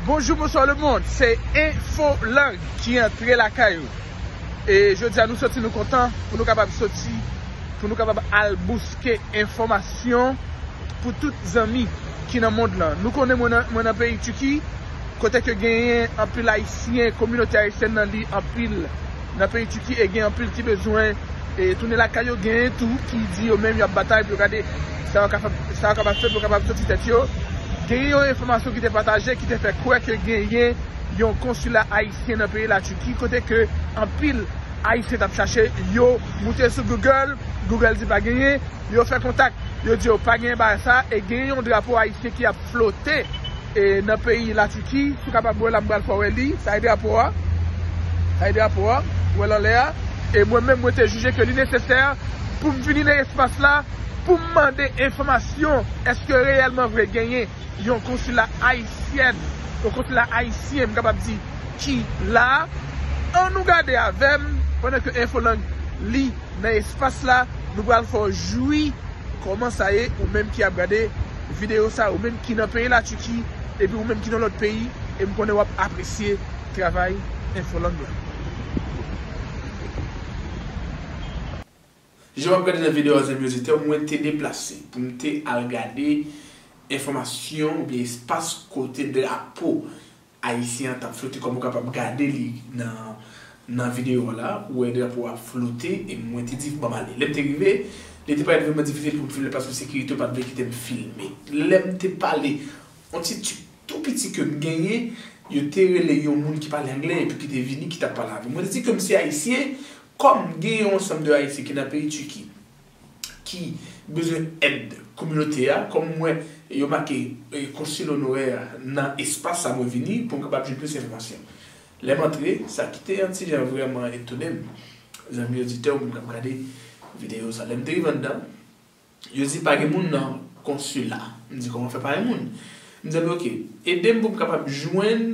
Bonjou bonswa le mond se infolang ki antre lakay ou e jodi a nou soti nou kontan pou nou kapab soti pou nou kapab al bouske enfòmasyon pou tout zanmi ki nan mond lan nou konnen mwen nan peyi Tiki kote ke genyen anpil ayisyen kominote ayisyèn nan li anpil Nan peyi Tiki e gen anpil ki bezwen e tounen lakay yo, genyen tou ki di yo menm y ap batay pou yo gade sa yo kapab sa yo kapab fè pou yo kapab soti tèt yo. Genyen yon enfòmasyon ki te pataje ki te fè kwè ke genyen yon konsila ayisyen nan peyi Latiki kote ke anpil ayisyen t ap chache yo moute sou Google, Google di pa genyen, yo fè kontak yo di yo pa genyen bagay sa e genyen yon drapo ayisyen ki ap flote. E nan peyi la Tiki pou kapab wè la m pral fè w wè li, sa e drapo a, sa e drapo a ou wè l anlè a, e mwen menm mwen te jije ke li nesesè pou m vini nan espas la pou m mande enfòmasyon èske reyèlman vre genyen yon konsila ayisyèn, yon konsila ayisyen m kapab di ki la a, an nou gade avè m pandan ke Infolang li nan espas la, nou pral fè w jwi kòman sa ye ou menm ki ap gade. videyo sa ou menm ki nan peyi la Turquie epi ou menm ki nan lòt peyi e m konnen wap apresye travay infolang la. Jan wap gade nan videyo a zanmi oditè mwen te deplase pou m te al gade enfòmasyon oubyen espas kote drapo Ayisyen an tap flote kòm ou kapab gade li nan nan video a la ou wè drapo a ap flote e mwen te di banm ale. Lèm te rive li te parèt vrèman difisil poum filme paske sekirite yo pat vle kitem filme. Lèm te pale yon ti tchip tou piti kem genyen yo te rele yon moun ki pale anglè epi ki te vini ki tap pale avèm. Mwen te di kem se ayisyen kòm gen yon ansanm de ayisyen ki nan peyi Tiki. ki bezwen èd kominote a, kòm m wè yo make Consul Honoraire nan espas sa mwen vini pou m kapab jwenn plis enfòmasyon. Lè m antre, sa ki te yon ti jan vrèman etone m, zanmi oditè ou menm k ap gade videyo sa, lè m te rive anndan, yo di pa gen moun nan konsila. M di kòman fè pa gen moun? M di zanmi ok, ede m pou m kapab jwenn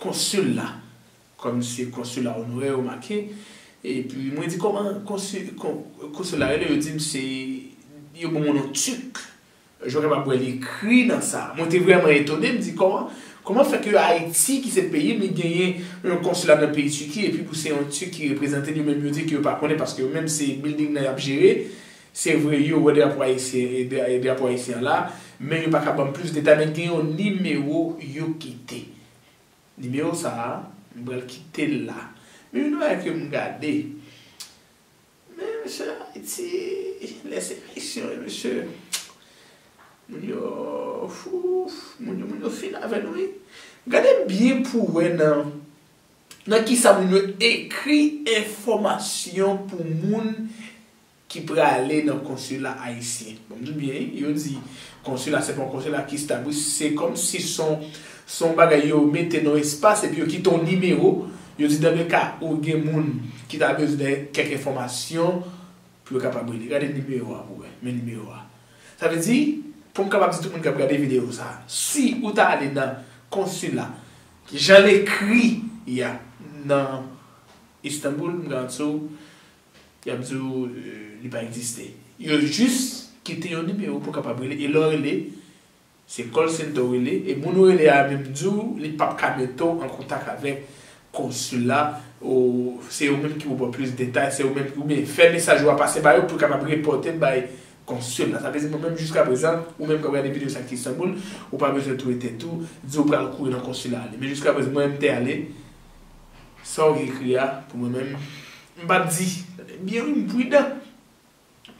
konsil la. Kòm se konsila onorè yo make epi mwen di kòman konsila rele yo dim se yo ban mwen non Turc jwen kapab wè li ekri nan sa mwen te vrèman etone m di kòman kòman fè ke Ayiti ki se peyi m li genyen yon konsila nan peyi Turquie epi pou se yon Turc ki reprezante l yo menm yo di ke yo pa konnen paske yo menm se building nan yap jere se vre yo wè drapo ayisyen drapo ayisyen an la men yo paka banm plis detay men gen yon nimewo yo kite. Nimewo sa a, m pral kite l la. Men yon bagay ke m gade, men mesye Ayiti, lè se Ayisyen wi mesye, moun yo fouf, moun yo moun yo fin avè nou wi. Gade byen pou w wè nan nan kisa moun yo ekri enfòmasyon pou moun. ki prale nan konsila ayisyen. Bon m di w byen wi, yo di konsila se pa yon konsila ki stab wi, se kòm si s on s on bagay yo mete nan yon espas epi yo kite yon nimewo, yo di dan le ka ou gen moun ki ta bezwen de kèk enfòmasyon pou yo kapab rele. Gade nimewo a pou w wè, men nimewo a. Sa vle di, pou m kapab di tout moun k ap gade videyo sa a, si ou ta ale nan konsila jan l ekri ya nan Istanbul, m garanti w, Y ap di ou li pa egziste. Yo jis kite yon nimewo pou w kapab rele e lè w rele, se call center ou rele e moun ou rele a menm di w li p ap ka mete w an kontak avèk konsila o se yo menm ki pou w ba w plis detay, se yo menm ki oubyen fè mesaj ou a pase ba yo pou yo kapab repòte l bay konsil la. Sa vle di mwen menm jiska prezan ou menm k ap gade videyo sa ki Istanbul ou pa bezwen touye tèt ou di ou pral kouri nan konsila ale men jiska prezan mwen menm m te ale Sa w ekri a pou mwen menm m pa p di Tande byen wi m pridan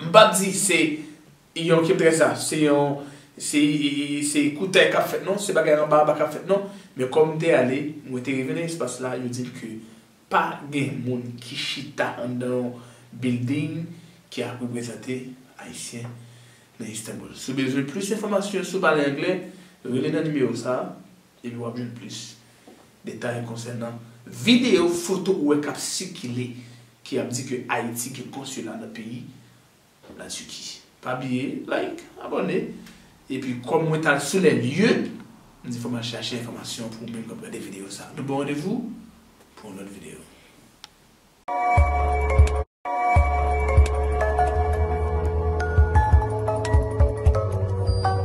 M pa p di se yon ke trè sa Se yon Se koutèy k ap fèt non Se bagay anba anba k ap fèt non Men kòm m te ale Mwen te rive nan espas la Yo di m ke pa gen moun ki chita anndan yon bilding ki ap reprezante Ayisyen nan Istanbul Si w bezwen plis enfòmasyon si w pale anglè rele nan nimewo sa a. Epi wap jwenn plis detay konsènan videyo, foto ou wè kap sikile ki ap di ke Ayiti gen konsila nan peyi la Tiki. Pa bliye like, abòne, epi kòm mwen tal sou lè lye, m di fòk mal chache enfòmasyon pou ou menm kap gade videyo sa. Nou bon randevou pou yon lòt videyo.